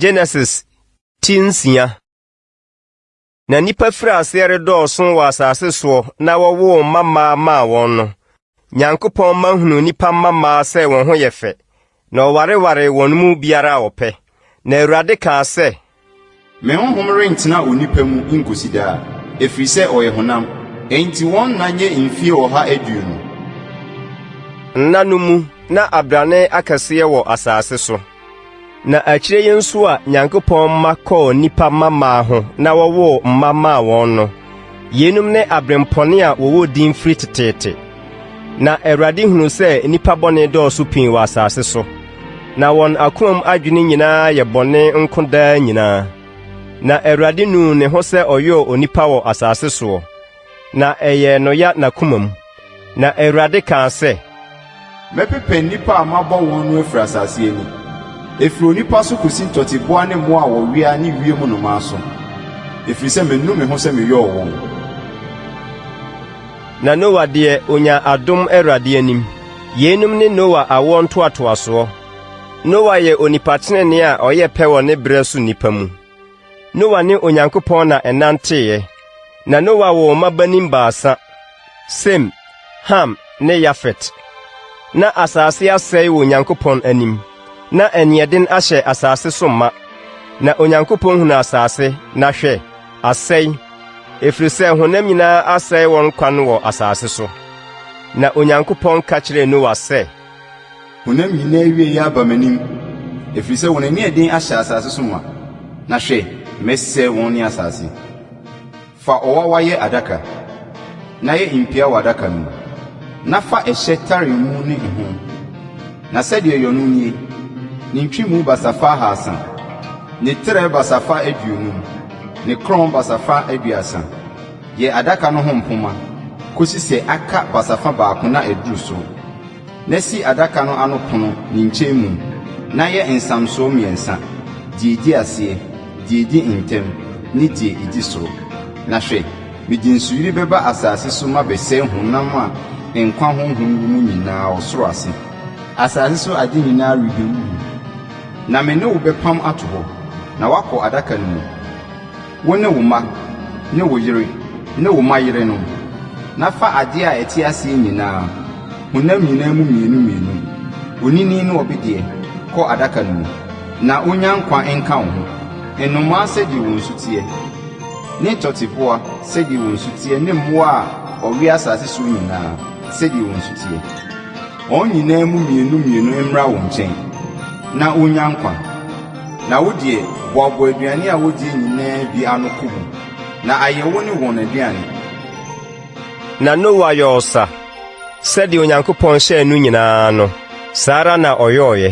Genesis ti nsia na nnipa firi aseɛ redɔɔso wɔ asase soɔ na wɔwoo mmammaa maa wɔn no nyankopɔn ma hunu nnipa mmammaa sɛ wɔn ho yɛ fɛ Na wɔwarewaree wɔn mu biara a ɔpɛ. Na Awurade kaa sɛ. Me honhom rentena onipa mu nkosi daa, ɛfiri sɛ ɔyɛ honam. Enti wɔn nna nyɛ mfie ɔha aduonu. Nna no mu na abrane akɛseɛ wɔ asase so. Na akyire yi nso a Nyankopɔn mma kɔɔ nnipa mmammaa ho na wɔwoo mma maa wɔn no, Yeinom ne abirɛmpɔne a wɔwɔ din firi teteete. Na Awurade hunuu sɛ nnipa bɔne dɔɔso pii wɔ asase so, na wɔn akomam adwene nyinaa yɛ bɔne nko daa nyinaa. Na Awurade nuu ne ho sɛ ɔyɔɔ onipa wɔ asase soɔ, na ɛyɛɛ no ya n'akomam. Na Awurade kaa sɛ. Mɛpepa nnipa a mabɔ wɔn no afiri asase ani, ɛfiri onipa so kɔsi ntɔteboa ne mmoa a wɔwea ne wiem nnomaa so, ɛfiri sɛ manu me ho sɛ meyɔɔ wɔn. Na Noa deɛ, ɔnyaa adom Awurade anim. Yeinom ne Noa awoɔ ntoatoasoɔ. Noa yɛ onipa tenenee a ɔyɛ pɛ wɔ ne berɛ so nnipa mu. Noa ne Onyankopɔn na ɛnanteeɛ. Na Noa woo mmabanin baasa, Sem, Ham, ne Yafet. Na asase asɛe wɔ Onyankopɔn anim, na aniɛden ahyɛ asase so ma. Na Onyankopɔn hunu asase, na hwɛ, asɛe, ɛfiri sɛ honam nyinaa asɛe wɔn kwan wɔ asase so. Na Onyankopɔn ka kyerɛɛ Noa sɛ, Honam nyinaa awiei aba m'anim, efiri sɛ wɔn ani ɛden ahyɛ asase so ma, na hwɛ, mɛsɛe wɔn ne asase. Fa ɔwawa yɛ adaka, na yɛ mpia wɔ adaka no mu, na fa ɛhyɛ tare emu ne ho, na sɛdeɛ yɔ no nie, ne ntwemu basafa ahaasa, ne trɛ basafa aduonum, ne korɔn basafa aduasa. Yɛ adaka no ho mpoma kɔsi sɛ aka basafa baako na aduru so. Na si adaka no ano pono ne nkyɛnmu, na yɛ nsamsoɔ mmiɛnsa, deɛ ɛdi aseɛ, deɛ ɛdi ntam, ne deɛ ɛdi soro. Na hwɛ, mede nsuyire bɛba asase so mabɛsɛe honam a nkwa honhom wɔ mu nyinaa ɔsoro ase. Asase so ade nyinaa rebɛwuwu. Na me ne wo bɛpam ato hɔ, na woakɔ adaka no mu. Wo ne wo mma ne wo yere ne wo mma yerenom, na fa adeɛ a ɛte aseɛ nyinaa, honam nyinaa mu mmienu mmienu, onini ne ɔbedeɛ, kɔ adaka no mu, na ɔnnya nkwa nka wo ho. Nnomaa sɛdeɛ wɔn su teɛ, ne tɔteboa sɛdeɛ wɔn su teɛ ne mmoa a wɔwea asase soɔ nyinaa sɛdeɛ wɔn su teɛ. Wɔn nyinaa mu mmienu mmienu mmra wo nkyɛn, na wonnya nkwa. Na wo deɛ, boaboa aduane a wodie nyinaa bi ano kɔ mu, na ayɛ wo ne wɔn aduane. Na Noa yɔɔ ɔsa, sɛdeɛ Onyankopɔn hyɛɛ no nyinaa no, saa ara na ɔyɔeɛ.